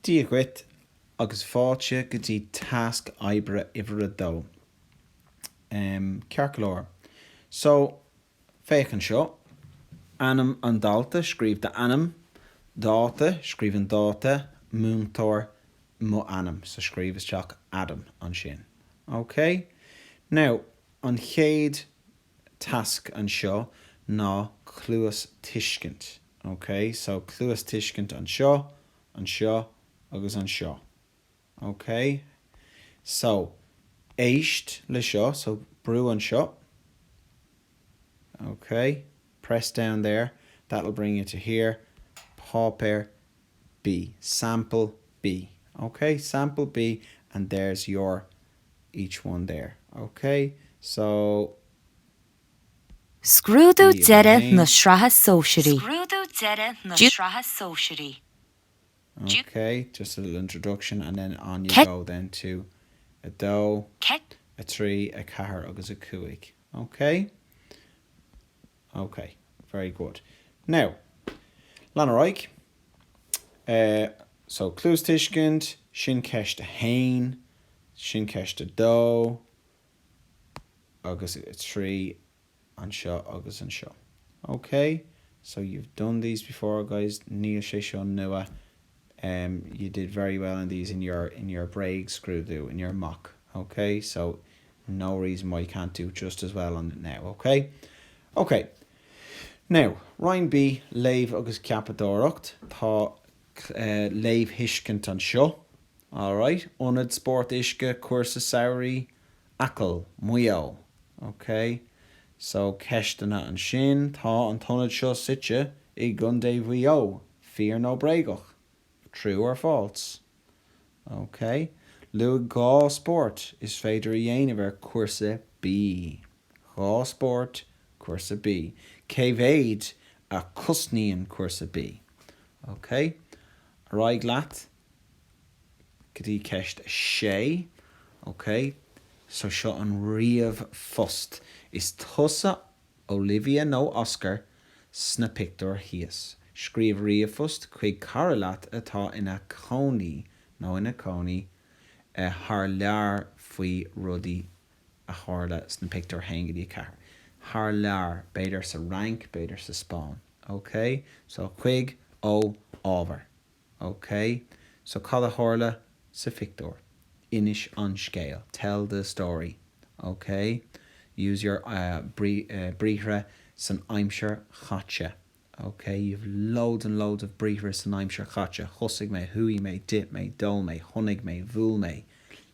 Dia dhuit agus fáilte go dtí tasc oibre uimhir a dó. Em, ceart go leor. So, féach anseo. Ainm an dalta, scríobh d'ainm. Dáta, scríobh an dáta. Múinteoir, mo ainm. So, scríobh isteach Adam ansin. Okay? Now, an chéad tasc anseo ná cluastuiscint. Ok, so cluastuiscint anseo, anseo agus anseo. Ok? So, éist le seo, so brú anseo. Ok? Press down there, that'll bring you to here. Páipéar B. Sample B. Ok? Sample B and there's your each one there. Ok, so. Scrúdú Bhí idir Deireadh na 1. Sraithe Sóisearaí. Scrúdú Deireadh na Ju. Sraithe Sóisearaí. Ju. Ok, just a little introduction and then on you Ceit. go then to 2, Ceit. 3, 4 agus 5. Ok? OK, very good. Now, lean ar aghaidh. So, cluastuiscint, sin ceist a haon, sin ceist a dó, agus a trí, anseo agus anseo. OK? So, you've done these before, guys. Níl sé seo nua em you did very well in these in your in your bréagscrúdú in your mock ok so no reason why you can't do just as well on it now ok ok now roinn B léamh agus ceapadóireacht tá eh léamhthuiscint anseo. All right, Ionad Spórt Uisce, Cúrsa Samhraidh, Acaill, Maigh Eo. Ok, so ceisteanna ansin. Tá an t-ionad seo suite i gContae Mhaigh Eo. Fíor nó bréagach? True or false? Ok, luaigh dhá spórt is féidir a dhéanamh ar Chúrsa B. Dhá spórt, Cúrsa B. Cé mhéid a chosnaíonn Cúrsa B? Ok, ar aghaidh leat. go dtí ceist sé. Ok, so seo an ríomhphost. Is tusa Olivia nó Oscar sna pictiúir thíos. Scríobh ríomhphost chuig cara leat atá ina chónaí nó ina cónaí thar lear faoi rudaí a tharla sna pictiúir 1 go dtí 4. Thar lear, b'fhéidir sa Fhrainc, b'fhéidir sa Spáinn. Ok? So chuig, ó, ábhar. OK, so cad a tharla sa phictiúr? Inis an scéal, tell the story. OK, use your briathra san aimsir chaite. OK, you've loads and loads of briathra san aimsir chaite, thosaigh mé, chuaigh mé, d'ith mé, d'ól mé, chónaigh mé, bhuail mé,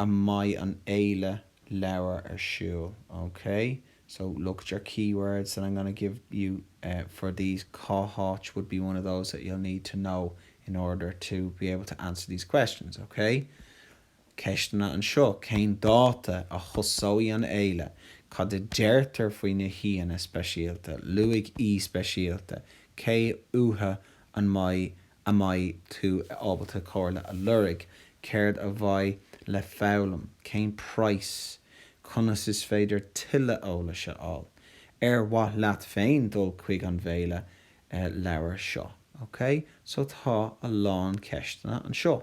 a mbeidh an fhéile leabhar ar siúl. OK so look at your keywords that I'm going to give you for these, cá háit would be one of those that you'll need to know in order to be able to answer these questions. OK Ceisteanna anseo, cén dáta a thosóidh an fhéile? Cad a deirtear faoi na haíonna speisialta? Luaigh aoi speisialta, cé uathu an mbeidh a mbeidh tú ábalta comhairle a lorg, céard a bheidh le foghlaim, cén price, conas is féidir tuilleadh eolais a fháil, ar mhaith leat féin dul chuig an bhféile leabhar seo, OK? So tá a lán ceisteanna anseo.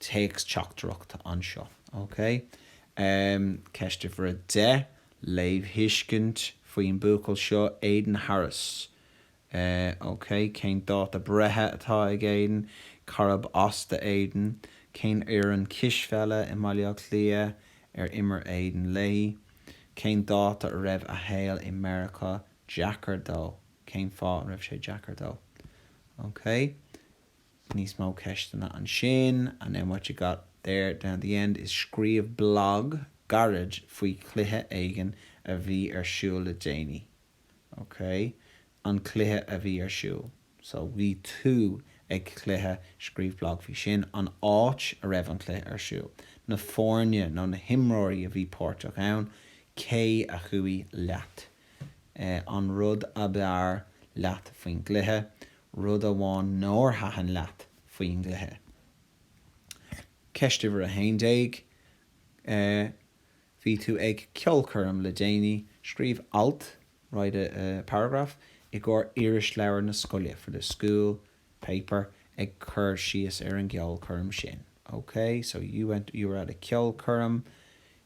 téacs teachtaireacht anseo, ok? Ceist uimhir a deich, léamhthuiscint faoin buachaill seo, Aidan Harris. Ok, cén dáta breithe atá ag Aidan? Car ab as do Aidan? Cén fhoireann cispheile i mBaile Átha Cliath ar imir Aidan léi? Cén dáta a raibh a shaol i Meiriceá deacair dó? Cén fáth a raibh sé deacair dó? Ok. Níos mó ceisteanna ansin, and then what you got there down the end is scríobh blog gairid faoi chluiche éigin a bhí ar siúl le déanaí. Ok, an cluiche a bhí ar siúl. So, bhí tú ag cluiche, scríobh blag faoi sin, an áit a raibh an cluiche ar siúl, na foirne nó na himreoirí a bhí páirteach ann, cé a chuaigh leat. an rud ab fhearr leat faoin gcluiche, rud amháin nár thaitin leat faoin gcluiche. Ceist uimhir a haon déag, Bhí tú ag ceolchoirm le déanaí, scríobh alt, write a paragraph, i gcomhair irisleabhar na scoile, for the school paper, ag cur síos ar an gceolchoirm sin. OK, so you were at a ceolchoirm.